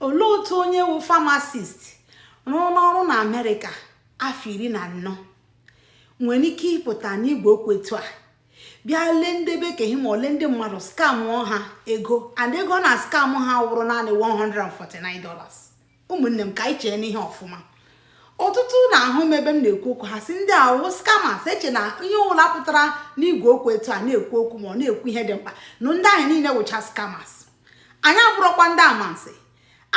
olee otu onye wụ famasist rụọna ọrụ na amerịka afọ iri na anọ nwere ike ịpụta n'igwe okwu etu a bịa lee ndị be ke ya ma ọ lee ndị mmadụ skamụọ ha ego and ego ọ na-askamụ ha wụrụ naanị 149 dollars ụmụnne m ka anyị cheenụ ihe ọfụma ọtụtụ na-ahụ m ebe m na-ekwu okwu ha sị ndị a wụ scammers eche na ihe ọbụla pụtara n'igwe okwu etu a na-ekwu okwu ma ọ na-ekwu ihe dị mkpa na ndị ahụ niile wụcha scammers anyị abụrụkwa ndị amansi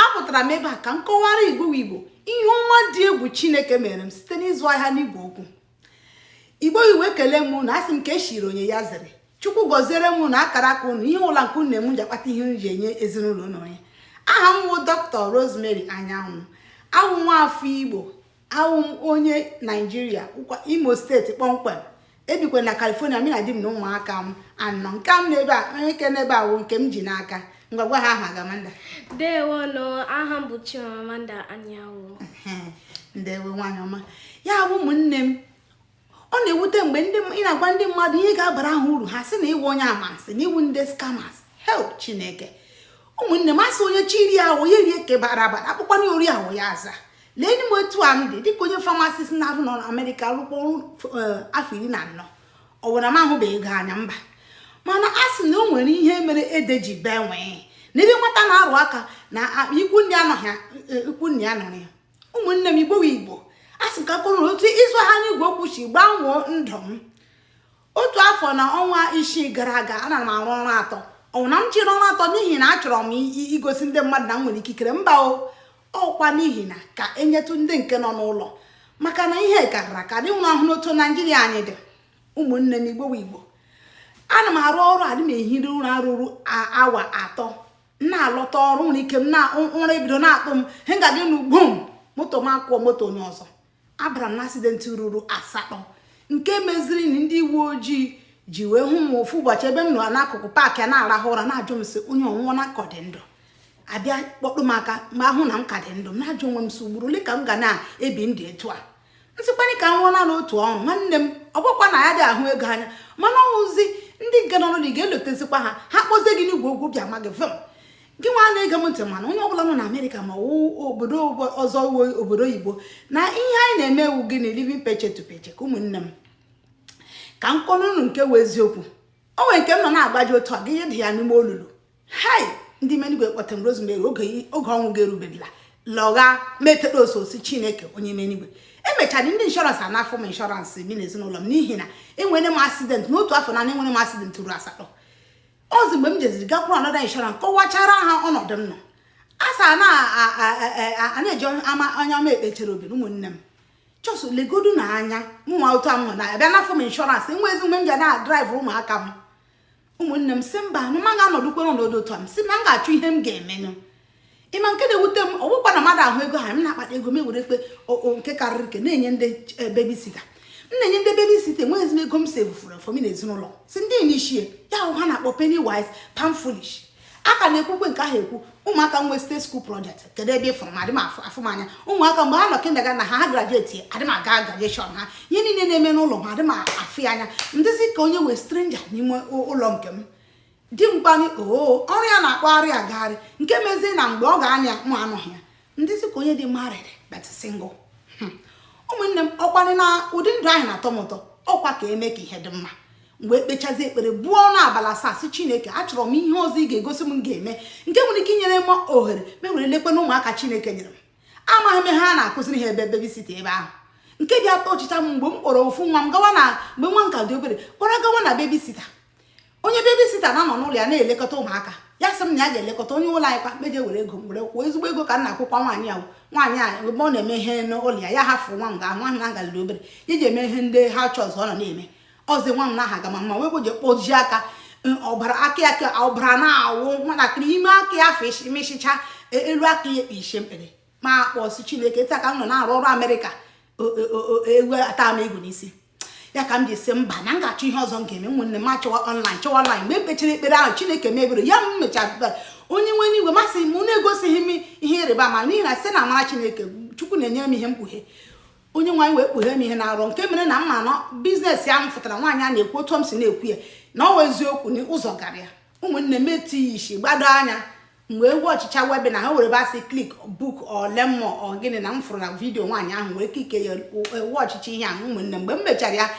apụtara m ebe a ka m kọwara igbo igbo ihe ọma dị egwu chineke mere m site n'ịzụ ahịa n'igwe okwu igbo igbo ekele m ụnụ asị m ke echiri onye ya zere chukwu gọziere m ụnụ akara aka ụnụ ihe ụla nke ụmụnne m ji akpata ihe eji enye ezinụlọ ụnụ ihe aha m bụ dọkịta Rosemary Anyanwụ awụ m nwa afọ igbo awụ m onye naijiria imo steeti kpọmkwem ebikwe na california mụ na di m na ụmụaka m anọ nke m n'ebe a onye ke n'ebe a wụ nke m ji n'aka ngwa gwa ha aha gị amanda ndewo nụ aha m bụ chimamanda anyanwụ ndewo nwaanyị ọma ya bụ ụmụnne m ọ na-ewute m mgbe ị na-agwa ndị mmadụ ihe ga-abara ha uru ha sị na ịwụ onye amansi na ịwụ ndị skamas help chineke ụmụnne m asị onye chọrọ iri awọ ya rie ke gbara agba a kpọkwa ya ori awọ ya aza lee m otu a m dị dịka onye famasist na-arụ nọ na amerịka rụkwa eh, afọ iri na anọ ọ wụ na m ahụbeghị ego anya mba mana a sị na o nwere ihe mere ede ji bee nwịị n'ebe nwata na-arụ aka na ikwu nne anọghị ya, ikwu nna anọrọ ya ụmụnne m igbo igbo asị m ka m kwuo otu ịzụ ahịa n'igwe okwu si gbanwoo ndụ m otu afọ na ọnwa isii gara aga ana m arụ ọrụ atọ ọ wụghị na m chịrị ọrụ atọ n'ihi na achọrọ m igosi ndị mmadụ na m nwere ikikere mba o ọkwa n'ihi na ka enyetụ ndị nke nọ n'ụlọ maka na ihe karịra ka dị nwụrụ ahụ n'otu naijiria anyị dị ụmụnne m igbo igbo ana m arụ ọrụ adịghị m ehi ụra ruru awa atọ m na-alọta ọrụ nwere ike m na ụra ebido na-atụ m m ka dị n'ụgbọ m moto m akụọ moto onye ọzọ abara m na asidenti ruru asatọ nke meziri na ndị uwe ojii ji wee hụ m ofu ụbọchị ebe m nọ n'akụkụ paakị a na-arahụ ụra na-ajụ m sị onye a ọ nwụọna ka ọ dị ndụ abịa kpọtụ m aka ma hụ na m ka dị ndụ m na-ajụ onwe m sị ugboro ole ka m ga na-ebi ndụ etu a m sịkwanụ ka m rụọ naanị otu ọrụ nwanne m ọ bụkwa na ya dị ahụ ego anya mana ọwụzi ndị nke nọ ụlọ na ị ga-elotezikwa ha ha kpọzie gị n'igwe okwu bịa ma gị vim gị nwa na-ege m ntị mana onye ọbụla nọ na amerịka ma ọ wụ obodo ọzọ wụ obodo oyibo na ihe anyị na-eme wụ gịnị living paycheck to paycheck ka ụmụnne m ka m kọrọ unu nke wụ eziokwu o nwere nke ị nọ na-agbaji otu a gị adaa n'ime olulu hai ndị menigwe kpọta m rosemary oge ọnwụ ga-erubedila lọgha metere ọ sọsọ chineke onye nwe n'igwe emechara ndị inshọransị anafụ m inshọransị mụ na ezinụlọ m n'ihi na enwere m asidentị n'otu afọ na enwere m asidentị ruo asatọ ọzị mgbe m jeziri gakwuru anọda inshọrans kọwachara ha ọnọdụ m nọ asa na-eji ama onye ọma ekpechere obi ụmụnne m chọsụ legodu na anya mụnwa otu ahụ ha abịa nafụ m inshọransị enwezi mgbe m ji na-adraịvụ ụmụaka m ụmụnne m si mba na m agaghị anọdụkwanụ n'ọnọdụ otu a m si na m ga-achọ ihe m ga-emenụ ị ma nke na-ewute m ọ bụkwa na mmadụ ahụ ego ha m na-akpata ego m ewere nke nke karịrị nke na-enye ndị eh, bebisita m na-enye ndị bebisita enweghị ezigbo ego m si efufuru efọ m na ezinụlọ si ndị inglish ya wụ ihe ha na-akpọ penny wise pound foolish a ka na-ekwukwe nke ahụ ekwu ụmụaka wee start school project kedu ebe ị fụrụ m adị m afụ m anya ụmụaka mgbe ha nọ kindagatịn ha grajueti adị m aga grajueshọn ha ihe niile na-eme n'ụlọ m adị m afụ ya anya m dịzị ka onye wụ strenja n'ime ụlọ nke m di m kwanụ oo ọrụ ya na-akpagharị agagharị nke mezie na mgbe ọ ga-anọ ya mụ anọghị ya m dịzị ka onye dị married but single hmm. ụmụnne m ọ kwanụ na ụdị ndụ ahụ na-atọ m ụtọ ọ kwa ka e mee ka ihe dị mma mgbe m kpechazi ekpere buo ọnụ abalị asaa si chineke achọrọ m ihe ọzọ ị ga-egosi m ga-eme nke nwere ike inyere m ohere m ewere lekwanụ ụmụaka chineke nyere m amaghị m ihe a na-akụziri ha ebe bebisita ebe ahụ nke bịa tọchịcha m mgbe m kpọrọ ofu nwa m gawa na mgbe nwa m ka dị obere kpọrọ gawa na bebisita onye bebisita na-anọ n'ụlọ ya na-elekọta ụmụaka ya sị m na ya ga-elekọta onye ụlọ anyị kwa m eje were ego were kwụọ ezigbo ego ka m na-akwụkwa nwaanyị ahụ nwaanyị a ebe ọ na-eme ihe n'ụlọ ya ya hafụ nwa m ga nwa m na ngaliri obere iji eme ihe ndị ha chọọ ọzọ ọ nọ na-eme ọzi nwa m na aha gama mma wepụ ji kpoji aka ọbara aka ya ka ọbara na-awụ nwatakịrị ime aka ya afọ mịchịcha e, elu aka ya ekpe ishe mkpere m akpọ sị chineke taa ka m nọ na-arụ ọrụ amerịka ewu ata m igu n'isi ya ka m ji si mba na m ga-achọ ihe ọzọ m ga-eme ụmụnne m achọwa ọnlaịn chọwa ọnlaịn mgbe m kpechiri ekpere ahụ chineke mebiri ya m mechara onye nwe n'igwe masị m na-egosighị m ihe ịrịba ama n'ihi na site na amara chineke chukwu na-enyere m ihe mkpughe onye nwaanyị wee kpughe m ihe ọ na-arụ nke mere na m ma na bizinesi ahụ fụtara nwaanyị a na-ekwu otu m si na-ekwu ya na ọ wụ eziokwu na ụzọ gara ya ụmụnne m etinye isi gbado anya mgbe m wọchịcha webinar ahụ were bịa sị klik buk learn more ọgịnị na m fụrụ na vidiyo nwaanyị ahụ wee klikie ya wọchịcha ihe ahụ ụmụnne mgbe m mechara ya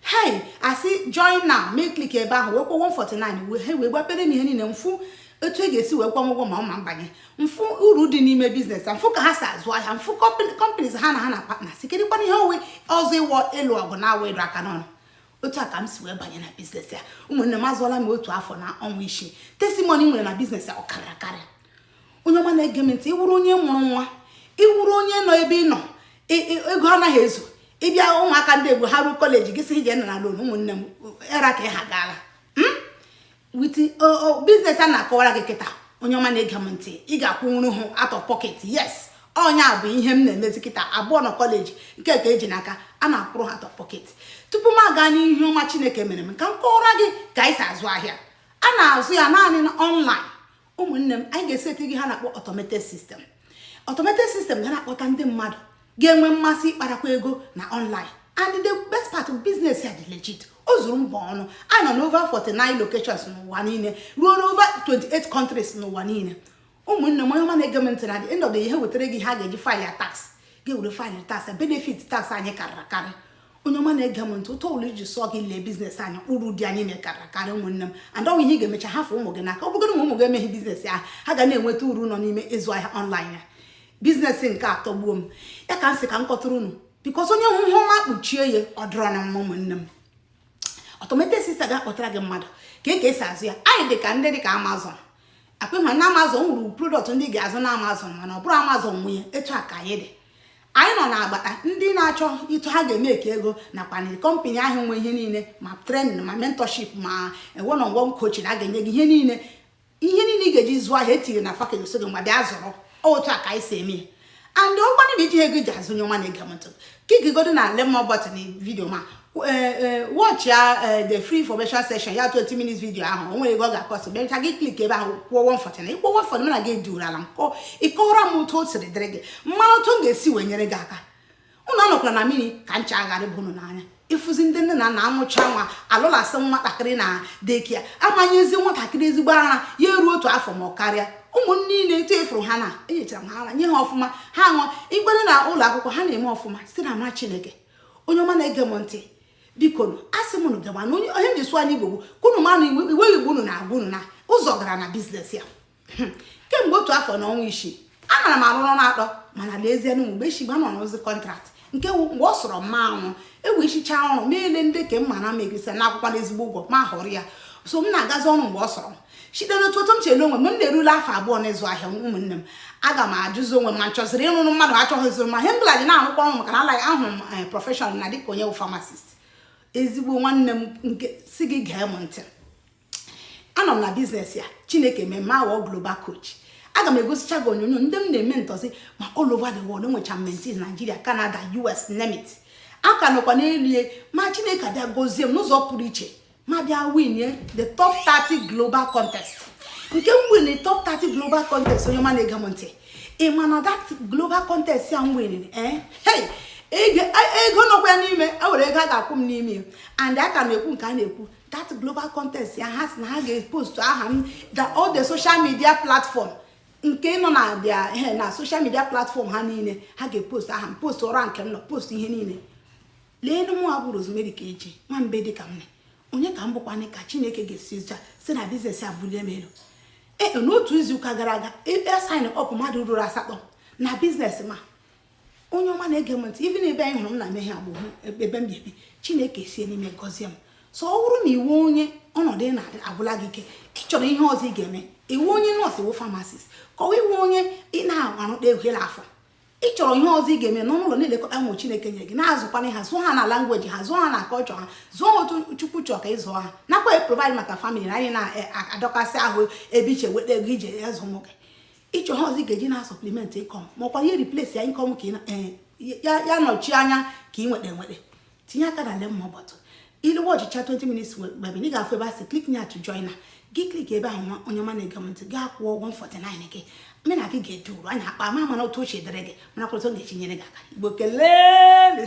hei asị join now m eklik ebe ahụ wee kwụọ 149 ha wee gbapere m ihe niile m fụ etu e ga-esi wee kwụọ m ụgwọ ma ọ wụ m banye m fụ uru dị n'ime biznes m fụ ka ha si azụ ahịa m fụ kọmpaniz ha na ha na patnas kedụkwanụ ihe ọ wụ ọzọ wụ ịlụ ọgụ na-awụghị ịdụ aka n'ọnụ otu a ka m si wee banye na biznes a ụmụnne m azụọla m otu afọ na ọnwa isii testimoni m nwere na biznes a ọ karịa akarị onye ọma na-ege m ntị ị wụrụ onye mụrụ nwa ị wụrụ onye nọ ebe ị nọ ego anaghị ezu gị bịa ụmụaka ndị egbo ha ruo kọleji gị sị ị je na-ana lon ụmụnne m era ka ha gaala hmm? with business a na-akọwara gị kịta onye ọma na-ege m ntị ị ga-akwụnwuru ha out of pocket yes onye a bụ ihe m na-emezi kịta abụọ nọ college nke ka e ji n'aka a na-akwụrụ ha out of pocket tupu m aga n'ihe ọma chineke mere m ka m kọwara gị ka anyị si azụ ahịa a na-azụ ya naanị na online ụmụnne m anyị ga-eseti gị ihe a na-akpọ automated system automated system ga na-akpọta ndị mmadụ ga-enwe mmasị ịkparakwa ego na online and the best part of business ya dị legit o zuru mba ọnụ a nọ n'over 49 locations n'ụwa niile ruo n'over 28 countries n'ụwa niile ụmụnne m onye ọma na-ege m ntị na the end of the year e wetara gị ihe ị ga-eji file ya tax ga-ewere file tax benefit tax anyị karịrị akarị onye ọma na-ege m ntị ụtọ ụlọ iji sụọ gị lee business anyị bụ uru dị n'ime karịrị akarị ụmụnne m and ọ bụ ihe ị ga-emecha hafụ ụmụ gị n'aka ọ bụgodu ụmụ gị emeghị business ahụ ha ga na-enweta uru nọ n'ime ịzụ ahịa online ya business nke a atọgbuo m ya ka m sị ka m kọtụrụ unu because onye hụ ihe ọma kpuchie ya ọ dịrọnụ mma ụmụnne m automated system ga-akpọtara gị mmadụ ka e ka e si azụ ya anyị dị ka ndị dị ka amazon ọ kwa ị hụrụ na amazon nwere product ndị ị ga-azụ na amazon mana ọ bụrọ amazon nwe ya etu a ka anyị dị anyị nọ n'agbata ndị na-achọ etu ha ga-emeke ego nakwa na company ahụ nwe ihe niile ma training ma mentorship ma one on one coaching a ga-enye gị ihe niile ihe niile ị ga-eji zụọ ahịa e tiri na package so gị ma bịa zụrụ otu a ka anyị si eme ya and ọ bụgodu na i jighị ego e ji azụ onye ọma na-ege m ntị click godu na learn more button na video m a watch ya the free information session ya 20 minutes video ahụ o nwerọ ego ọ ga-acost mechaa gị click ebe ahụ kwụọ 149 ị kwụọ 149 mụ na gị dụrụ ala m kọ ị kọwara m otu o siri dịrị gị m manụ otu m ga-esi wee nyere gị aka unu anọkwala na mmiri ka ncha ghara ịba unu n'anya ị fụzi ndị nne na nna amụcha nwa alụlasị nwatakịrị na daycare a ma nyezi nwatakịrị ezigbo ara ya eruo otu afọ ma ọ karịa ụmụ m niile etu ị fụrụ ha na enyechara m ha ara nye ha ọfụma ha ṅụọ igbere na ụlọ akwụkwọ ha na-eme ọfụma site n'amara chineke onye ọma na-ege m ntị biko asị m unu gama na ihe m ji sụọ n'igbo bụ ka unu manụ ibe igbo unu na-agwa unu na ụzọ gara na business ya hmm. kemgbe otu afọ na ọnwa isii anara m arụ ọrụ atọ mana lezie na mgbe echi gbanọ n'ozi contract nke mgbe ọ sọrọ m m arụọ e wesịcha ọrụ m elee ndị ka mma na m egesa na-akwụkwa ezigbo ụgwọ m ahọrọ ya so m na-agazi ọrụ mgbe ọ sọrọ m site n'otu otu m chere onwe m m na-erule afọ abụọ n'ịzụ ahịa ụmụnne m aga m ajụzi onwe m ma m chọziri ịrụrụ mmadụ achọghịzị m ihe mbụla ji na-arụkwa ọrụ maka na alaghị ahụrụ m eh, profession na dịka onye bụ pharmacist ezigbo nwanne m m ka sị gị gee m ntị anọ m na business ya chineke mee m aghọọ global coach aga m egosicha gị onyonyo ndị m na-ementorzi ma all over the world enwechara m mentees Nigeria Canada US name it aka nọkwa n'elu ma chineke abịa gozie m n'ụzọ pụrụ iche m abịa winie the top 30 global contest nke m win top 30 global contest onye ọma na-ege m ntị ị ma na that global contest ya m winiri eh? hey ego nọkwa n'ime e nwere ego a ga-akwụ m n'ime and a ka na-ekwu nke a na-ekwu that global contest ya ha si na ha ga-epost aha m the all the social media platform nke nọ na bịa eh, na social media platform ha niile ha ga-epost aha m post rank m nọ post ihe niile lee mụ bụ Rosemary ka eji nwa mbe dị ka m ne onye ka m bụkwanị ka chineke ga-esi ụcha si na business a bulie m elu ee e, n'otu izuụka gara aga ebe sign up mmadụ ruru asatọ na business m a onye ọma na-ege m ntị ibi na ebe anyị hụrụ m na mehie agbụ ebe m bi chineke sie n'ime gọzie m so ọ bụrụ na ị wụ onye ọnọdụ ị nọ agwụla gị ike ị chọrọ ihe ọzọ ị ga-eme ị wụ onye nurse ị wụ pharmacist ka ọ wụ ị wụ onye ị na-arụ egwela afọ ị chọrọ ihe ọzọ ị ga-eme nọ n'ụlọ na-elekọta ụmụ chineke nye gị na-azụkwanye ha zụọ ha na language ha zụọ ha na culture ha zụọ ha otu chukwu chọọ ka ị zụọ ha nakwa provide maka family anyị na-adọkasị e, ahụ ebe ị si eweta ego ị ji azụ ụmụ gị ị chọrọ ihe ọzọ ị ga-eji na supplement income makwa ihe replace ya income ka e, ya nọchi anya ka ị nweta enweta tinye aka na learn more button iluwe watchịchaa 20 minutes mgbe ị ga-afụ ebe a sị click na to join now gị click ebe ahụ onye ọma na-ege m ntị gị akwụ ụgwọ 49 gị mme na gị ga-ede uru anya akpa ma mana otu ọ si dịrị gị mana kwụrụta ga-echi nyere gị aka igbo kelee